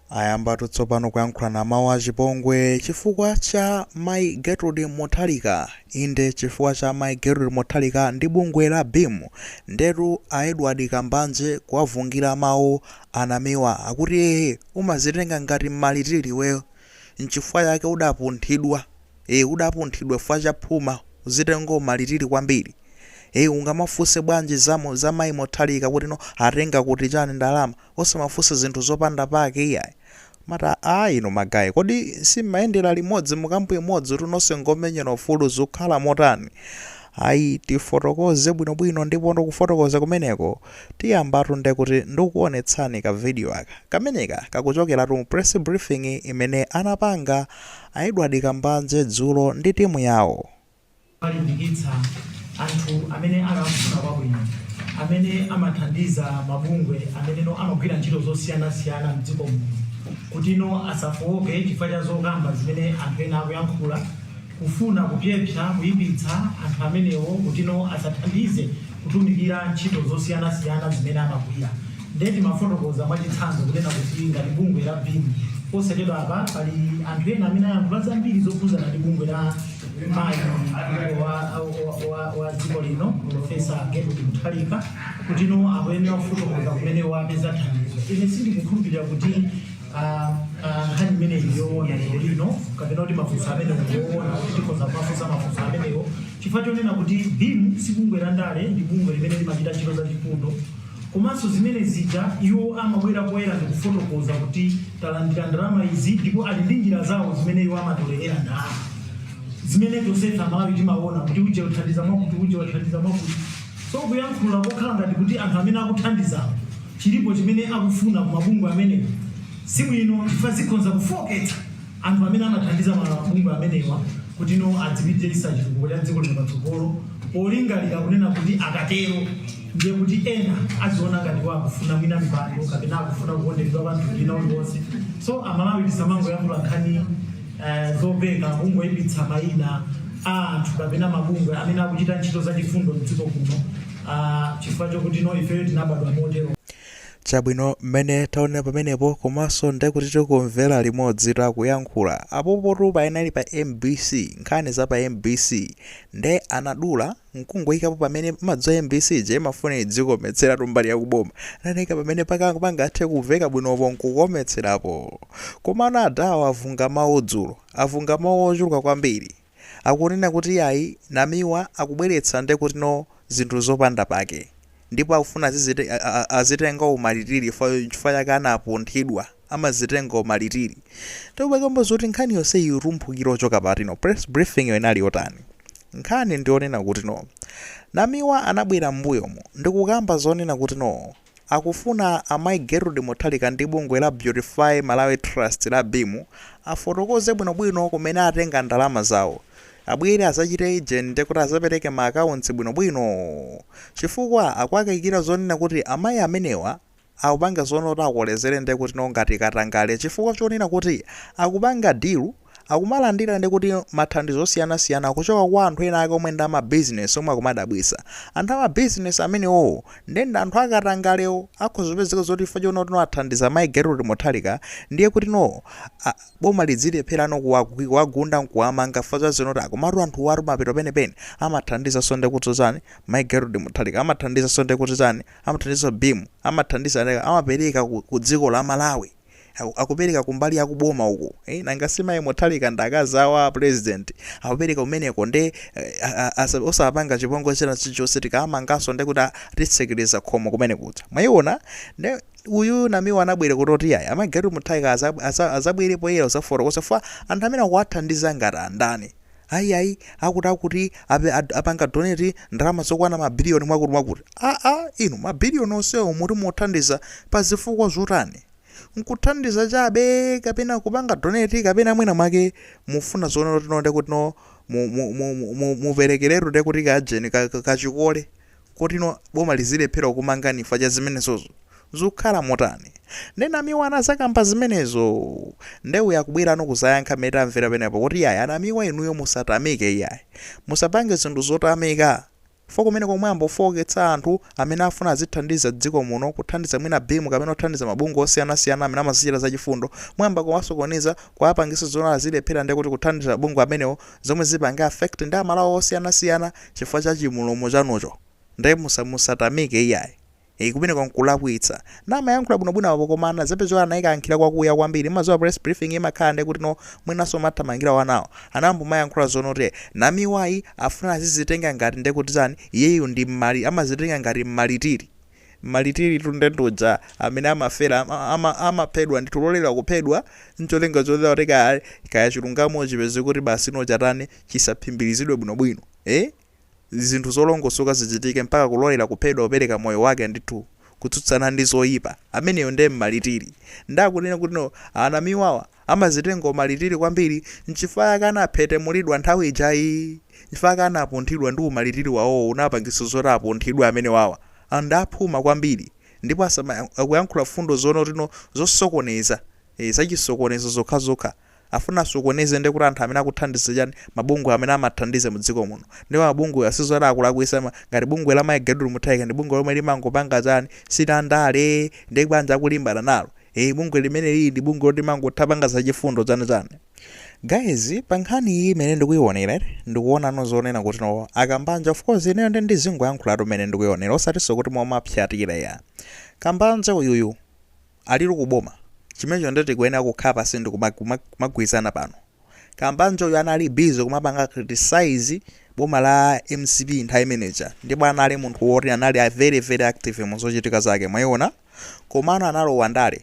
Ayambatu tsopano kuyankhulana mawu achipongwe chifukwa cha Mai Gertrude Mutharika. Inde chifukwa cha Mai Gertrude Mutharika ndi bungwe la BEAM. Ndetu a Edward Kambanje kuwavungira mawu a Namiwa akuti ee umazitenga ngati mmalitili iweyo nchifukwa chake udapunthidwa. ee udapunthidwa fukwa cha phuma uzitenga mmalitili kwambiri ee ungamafunse bwanji za za mayi Mutharika kuti no atenga kuti chani ndalama osamafunse zinthu zopanda pake iyayi mata aa inu magaye kodi simmayendela limodzi mukampu imodzitu nonse ngomenyela ufulu zukhala motani ayi tifotokoze bwinobwino ndipo ndikufotokoza kumeneko tiyambatu ndekuti ndikuonetsani ka video aka kameneka kakuchokelatu mu press briefing imene anapanga A Edward Kambanje dzulo ndi timu yawo. alimbikitsa anthu amene akufuna kwabwino amene amathandiza mabungwe amene no amagwira ntchito zosiyanasiyana m'dziko muno kuti no asafooke chifukwa cha zokamba zimene anthu ena akuyankhula kufuna kupyepsa kuipitsa anthu amenewo kuti no asathandize kutumikira ntchito zosiyanasiyana zimene amagwira. Ndiye timafotokoza mwachitsanzo kunena kuti ngati bungwe la BEAM posachedwapa pali anthu ena amene ayankhula zambiri zokhudzana ndi bungwe la mayi wa, wa, wa, wa dziko lino Profesa Gertrude Mutharika kutino akuyenera kufotokoza kumene wapeza thandizo. Ine sindikukhulupirira kuti ah, ah, nkhani imeneyi yoona lero lino kapena kuti mafunso amenewo ndiyoona kuti tikhoza kumafunsa mafunso amenewo chifukwa chonena kuti BEAM si bungwe la ndale ndi bungwe limene limachita ntchito za chifundo Komanso zimene zija iwo amabwera poyera ndikufotokoza kuti talandira ndalama izi ndipo ali ndi njira zawo zimene iwo amatolelera ndalama zimene tonsefe Amalawi timaona kuti uje uthandiza mwakuti uje wathandiza mwakuti so kuyankhula kokhala ngati kuti anthu amene akuthandizawo chilipo chimene akufuna ku mabungwe amenewo sibwino chifukwa zikhonza kufooketsa Anthu amene amathandiza mabungwe amenewa kuti no adzipititsa chitukuko cha dziko lino patsogolo polingalira kunena kuti akatero ndiye kuti ena aziona ngati iwo akufuna mwina mipando kapena akufuna kukonderedwa pa mtundu wina uliwonse so amalawi tisamangoyankhula nkhani eh, zopeka kungoipitsa mayina a anthu kapena mabungwe amene akuchita ntchito zachifundo mdziko kuno ah, chifukwa chokuti no ifeyo tinabadwa motero Chabwino, mmene taonera pamenepo, komanso nde kuti tikumvera limodzitu akuyankhula. Apopotu panali pa mbc, nkhani za pa mbc. Nde anadula, nkungoikapo pamene, mmadziwa mbc ija imafuna idzikometseratu mbali ya ku boma. Anaika pamene paka pangathe kumveka bwinopo nkukometserapo. Komano adawa avunga mawu dzulo. Avunga mawu ochuluka kwambiri. akunena kuti iyayi Namiwa akubweretsa ndekuti no zinthu zopanda pake ndipo akufuna azizite azitenga umalitili chifukwa chifukwa chake anapunthidwa amazitenga umalitili ndipo pakamba zoti nkhani yonse itumphukira kuchoka pati no press briefing yo inali yotani nkhani ndi yonena kuti no Namiwa anabwera mbuyomu ndikukamba zonena kuti no Akufuna a Mai Gertrude Mutharika ndi bungwe la Beautify Malawi Trust la Beam afotokoze bwinobwino kumene atenga ndalama zawo. Abwere azachite ujeni ndiye kuti azapereke ma accounts bwinobwino. Chifukwa akuwakaikira zonena kuti amayi amenewa akupanga zonena kuti akolezere ndiye kuti no ngati katangale chifukwa chonena kuti akupanga deal akumalandira ndikuti mathandizo osiyana siyana kuchoka kwa anthu ena ake omwe ndi ama business omwe akumadabwisa anthu ama business amenewowo nde ndi anthu akatangalewo akhoza kupezeka zoti chifukwa choti notino athandiza mayi Gertrude Mutharika ndiye kuti no a boma lidzilephera no kuwagwi kuwagunda nkuwamanga chifukwa za zinoti a komatu anthuwatu pamapeto penipeni amathandizanso ndi kuti chani mayi Gertrude Mutharika amathandizanso ndi kuti chani amathandizanso Beam amathandiza ndi amapereka ku, ku dziko la Malawi akupereka kumbali ya kuboma uku eh? nanga si mayi mutharika ndi akazi awo a president akupereka kumeneko nde eh, a- a- asa- osapanga chipongwe china chilichonse tikawamanganso nde kuti atitsekereza khomo kumenekuja mwayiona nde uyu namiwa anabwera kuti yayi amayi gertrude mutharika azabwere poyera kuzafotokoza chifukwa anthu amene akuwathandiza ngati andani Ayi ayi akuti akuti ape- ad- apanga donate ndalama zokwana mabiliyoni mwakuti mwakuti aa inu mabiliyoni onsewo muti muthandiza pa zifukwa zotani nkuthandiza chabe kapena kupanga donate kapena mwina mwake mufuna zonena kuti no ndekuti no mu- mu- mu- mu- mu- muperekeretu ndekuti kajeni ka- ka- kachikole koti no boma lizilephera kukumangani chifukwa cha zimenezozo? zukhala motani? nde namiwa anazakamba zimenezo? nde uyo akubwerano kuzayankha mmene tamvera penapo kuti iyayi anamiwa inuyo musatamike iyayi. musapange zinthu zotamika chifukwa kumeneko muyambofooketsa anthu amene afuna azithandiza dziko muno kuthandiza mwina beam kapena kuthandiza mabungwe osiyanasiyana amene amazichita zachifundo muyamba kuwasokoneza kuwapangisa zoti azilephera ndekuti kuthandiza mabungwe amenewo zomwe zipange affect ndi amalawi osiyanasiyana chifukwa cha chimulomo chanucho nde musa musatamike iyayi ee kumeneko nkulakwitsa na amayankhula bwinobwino apo koma anazapezeka zoti anaikankhira kwakuya kwambiri maziwa press briefing imakhala nde kuti no mwinanso mathamangira wanawo anayamba kumayankhula zonoti namiwayu afuna azizitenga ngati nde kuti chani iyeyu ndi mmali amazitenga ngati mmalitiri Mmaritiritu nde ndi uja amene amafera, ama, amaphedwa ndithu, kulolela kuphedwa ncholinga chonena kuti kaya, kaya chilungamo chipezeke kuti basi no chatani, chisaphimbirizidwe bwinobwino, eh, zinthu zolongosoka zichitike mpaka kulolela kuphedwa kupereka moyo wake ndithu kutsutsana ndi zoyipa, ameneyo nde mmaritiri. Nde akunena kuti no anamiwawa. Amazitenga umalitili kwambiri nchifukwa chake anaphethemulidwa nthawi ijayi nchifukwa chake anapunthidwa ndi umalitili wawowo unapangitsa zoti apunthidwe amenewawa anthu ndi aphuma kwambiri ndipo asamayang, akuyankhula fundo zoti no zosokoneza ee zachisokonezo zokhazokha afuna asokoneze ndekuti anthu amene akuthandiza chani mabungwe amene amathandiza mudziko muno ndipo mabungwewa sizoti akulakwisa ma, ngati bungwe la Mai Gertrude Mutharika ndi bungwe lomwe limangopanga chani si zandale nde bwanji akulimbana nalo Eee bungwe limeneli ndi bungwe loti limangothapanga zachifundo chani chani. Guys pankhani iyi imene ndikuionera ine ndikuona no zonena kuti no a Kambanje of course ineyo ndi ndizingoyankhulatu mmene ndikuionera osatinso kuti mwamapsatira iyayi. Kambanje uyuyu alili kuboma chimenecho nde tikuyenera kukhala pansi ndikumagwirizana pano. Kambanjeyu anali busy kumapanga criticize boma la mcp nthawi imene ija ndipo anali munthu woti anali a very very active mu zochitika zake mwayiona komano analowa ndale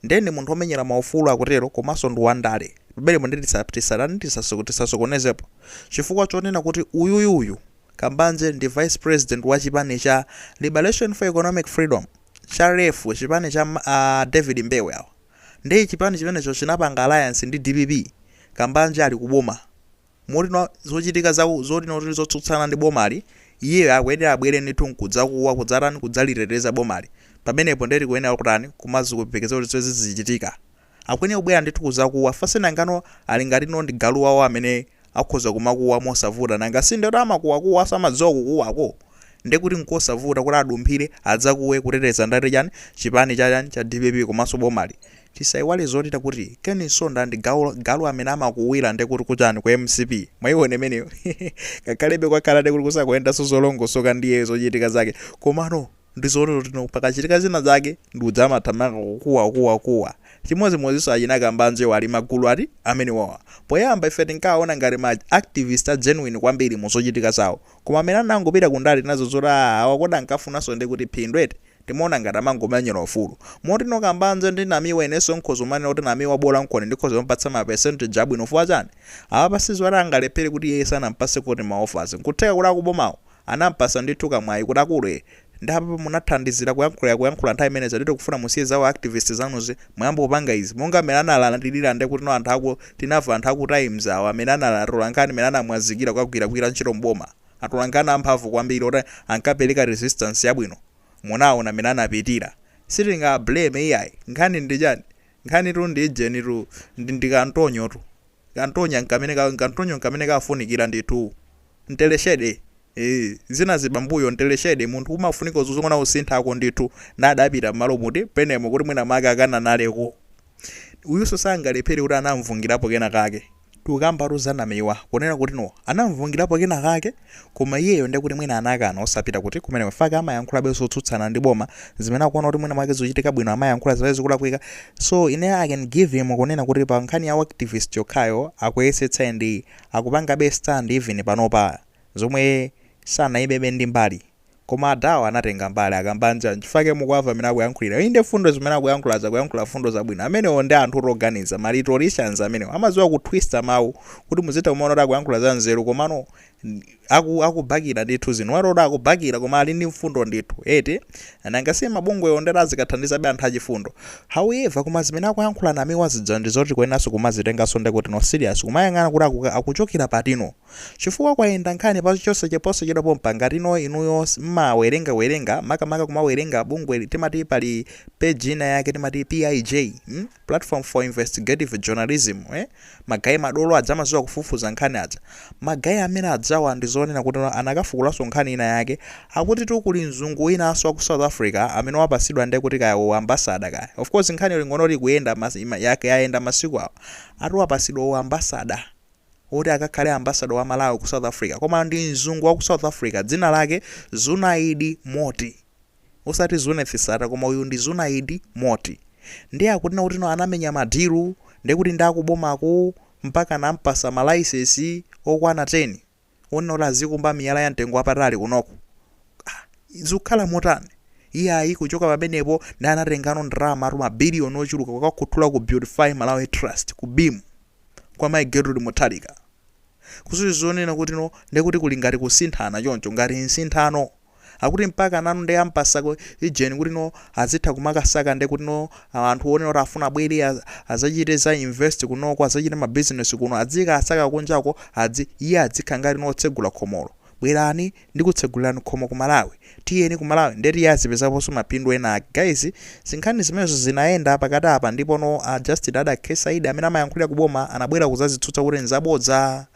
ndiye ndi munthu omenyera maufulu akutero komanso ndi wandale pamenepo ndi tisa- tisatani tisaso- tisasokonezepo chifukwa chonena kuti uyuyu uyu Kambanje ndi vice president wa chipani cha Liberation for Economic Freedom cha LEF chipani cha ma- a David Mbewe awa Ndiye chipani chimenecho chinapanga alliance ndi dpp Kambanje ali ku boma. Moti no zochitika za zoti no tili zotsutsana ndi bomali, iye akuyenera abwere ndithu nkudzakuwa, kudzatani, kudzaliteteza bomali. Pamenepo ndiye tikuyenera kutani, kumaziyembekezera kuti zimenezi zizichitika. Akuyenera kubwera ndithu kudzakuwa, fa si nanga no ali ngati no ndi galu wawo amene. akhoza kumakuwa mosavuta nanga si ndi oti amakuwakuwa samadziwa kukuwako nde kuti nkosavuta kuti adumphire adzakuwe kuteteza ndati chani chipani cha chani cha dpp komanso bomali tisaiwale zoti tati Ken Msonda ndi galu amene amakuwira nde kuti kuchani ku mcp mwaiona imeneyo ngakhale be kwakhala nde kuti kusakuyendanso zolongosoka ndiye zochitika zake komano ndi zoti no pakachitika zina zake ndi uja amathamanga kukuwa kuwa kuwa chimodzimodzinso achina Kambanjewa ali magulu a amenewawa poyamba ife tinkawaona ngati ma activist a genuine kwambiri mu zochitika zawo koma mmene anangopita ku ndale tinaona zoti aa awa kodi ankafunanso ndi kuti phindu eti timaona ngati amangomenyera ufulu moti no kambanje ndi namiwa inenso nkhoza manena kuti namiwa bola nkona ndikhoza kumupatsa ma percentage abwino chifukwa chani apapa sizoti angalephere kuti iye sanampatse kuti ma offers nkutheka kuti akubomawo anampatsa ndithu kamwayi kuti akule nde apapa munathandizira kuyankhula kuyankhula nthawi imene ija nde tikufuna musiye za u activist zanuzi muyambe kupanga izi monga mene analandilira nde kuti no anthu aku tinava anthu aku times awa mene anali atolankhani mene anamwazikira kukagwira gwira ntchito m'boma atolankhani amphamvu kwambiri oti ankapeleka resistance yabwino munaona mene anapitira sitingawa blame iyayi nkhani ndi chani nkhanitu ndi ijenitu ndi ndikantonyotu Kantonya n'kamene ka, kantonyo n'kamene kafunikira ndithu. Mteleshede, ee, zinazi pambuyo, Mteleshede, munthu umafunika uzizongona usinthako ndithu, nda adapita m'malo muti, penemo kuti mwina mwake akananaleko. Uyunso sangalephere kuti anamvungirapo kena kake. Tikukambatu za Namiwa, kunena kuti no, anamvungirapo kena kake. Koma iyeyo nde kuti mwina anakana osapita kuti kumeneko chifukwa chake amayankhulabe zotsutsana ndi boma zimene akuona kuti mwina mwake zikuchitika bwino amayankhula zake zikulakwika so ine I can give him kunena kuti pa nkhani ya u activist yokhayo akuyesetsa and akupangabe stand even panopa zomwe sanaimebe ndi mbali Koma adhawa anatenga mbali a Kambanje nchifukwa chake mukuwava mmene akuyankhulira inde fundo zimene akuyankhulazi akuyankhula fundo zabwino amenewo nde anthutu oganiza ma rhetoricians amenewo amaziwa kutwista mawu kuti muzitha kumaona kuti akuyankhula za nzeru komano aku akubakira ndithu zinthu umaona kuti akubakira koma ali ndi mfundo ndithu eti nanga si mabungwewo nde azikathandizabe anthu achifundo however koma zimene akuyankhula a Namiwazi dzandizo tikuyeneranso kumazitenganso nde kuti no serious kumayang'ana kuti akuka akuchokera patino Chifukwa kwayenda nkhani pa chosachedwa posachedwa pompa ngati no inuyo mmawerenga werenga makamaka kumawerenga bungwe timati pali page ina yake timati PIJ mm platform for investigative journalism eh ma guy madolo aja amaziwa kufufuza nkhani aja ma guy amene ajawa ndi zonena kuti anakafukulaso nkhani ina yake akutitu kuli mzungu winaso wa ku south africa amene wapasidwa nde kuti kaya u ambassador kaya of course nkhaniyo lingonoti ikuyenda yayenda masiku awa ati wapasidwa u ambassador woti akakhale ambassador wa Malawi ku South Africa koma ndi mzungu wa ku South Africa dzina lake Zunaid Moti osati Zuneth Sattar koma uyu ndi Zunaid Moti ndiye akunena kutino anamenya madilu ndiye kuti ndi akubomako mpaka anampasa malaisensi okwana 10 onena kuti azikumba miyala ya mtengo wapatali kunoko ah, zikukhala motani iyayi kuchoka pamenepo nde anatengano ndalamatu mabiliyoni ochuluka kukakhuthula ku Beautify Malawi Trust ku BEAM kwa Mayi Gertrude Mutharika. Kuli zonena kuti no nde kuti kuli ngati kusinthana choncho ngati nsinthano. Akuti mpaka nanu nde ampasako ijeni kuti no azitha kumakasaka nde kuti no anthu onena kuti afuna abwere az, azachite za invest kunoko azachite ma business kuno adzikasaka kunjako adzi iye adzikha ngati no otsegula khomolo. Bwerani ndikutsegulirani khomo ku malawi tiyeni ku malawi nde kuti azipezaponso mapindu ena guys zinkhani zimenezo zinayenda pakati apa ndipono a Justin Adack Saidi amene amayankhulira ku boma anabwera kuzazitsutsa kuti nzabodza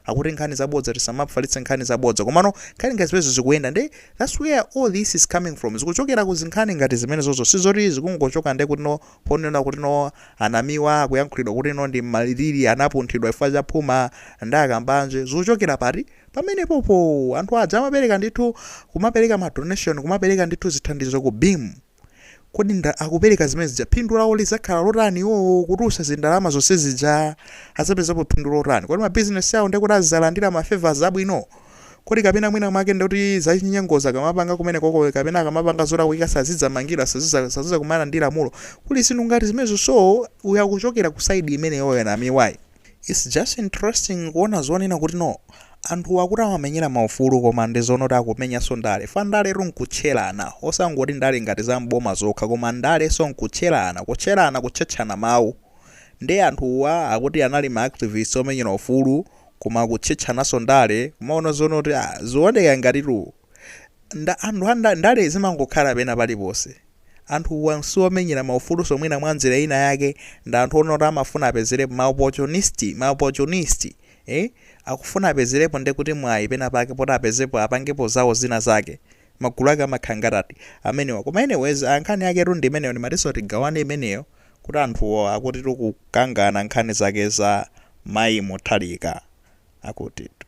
akuti nkhani zabodza tisamafalitse nkhani zabodza komano nkhani ngati zimenezo zikuyenda nde that's where all this is coming from zikuchokera ku zinkhani ngati zimenezozo sizoti zikungochoka nde kutino ponena kutino a Namiwa akuyankhulidwa kutino ndi malilili anapunthidwa chifukwa cha phuma ndi a Kambanje zikuchokera pati Pamenepopo anthu aja amapereka ndithu, kumapereka ma donation, kumapereka ndithu zithandizo ku BEAM. Kodi nda akupereka zimene zija phindu lawo lidzakhala lotani iwowo kutulutsa zindalama zonse zija? Adzapezapo phindu lotani? Kodi ma business awo ndekuti adzalandira ma favours abwino? Kodi kapena mwina mwake ndekuti zachinyengozi akamapanga kumenekoko kapena akamapanga zolakwika sazidzamangidwa, sazidza sazidzakumana ndi lamulo? Kuli zinthu ngati zimenezo so uyu akuchokera ku side imeneyoyo Namiwayi. It's just interesting kuona zonena kuti no anthuwa akuti amamenyera maufulu koma ndi zonoti akumenyanso ndale fa ndaletu nkutcherana osangoti ndale ngati za m'boma zokha koma ndalenso nkutcherana kutcherana kutchetchana mawu nde anthuwa akuti anali ma activists omenyera ufulu koma akutchetchananso ndale kumaona zonoti ah zikuoneka ngatitu Nda, anthu, ndale zimangokhala pena paliponse. Anthuwa siwomenyera maufuluso mwina mwanjira ina yake ndi anthu onoti amafuna apezerepo, ma opportunist, ma opportunist, eh, akufuna apezerepo ndekuti mwayi pena pake poti apezepo apangepo zawo zina zake. Magulu ake amakhala ngati ati, amenewa. Koma anyways, ah, nkhani yaketu ndi imeneyo ndimatinso tigawane imeneyo kuti anthuwo akutitu kukangana nkhani zake za Mayi Mutharika akutitu.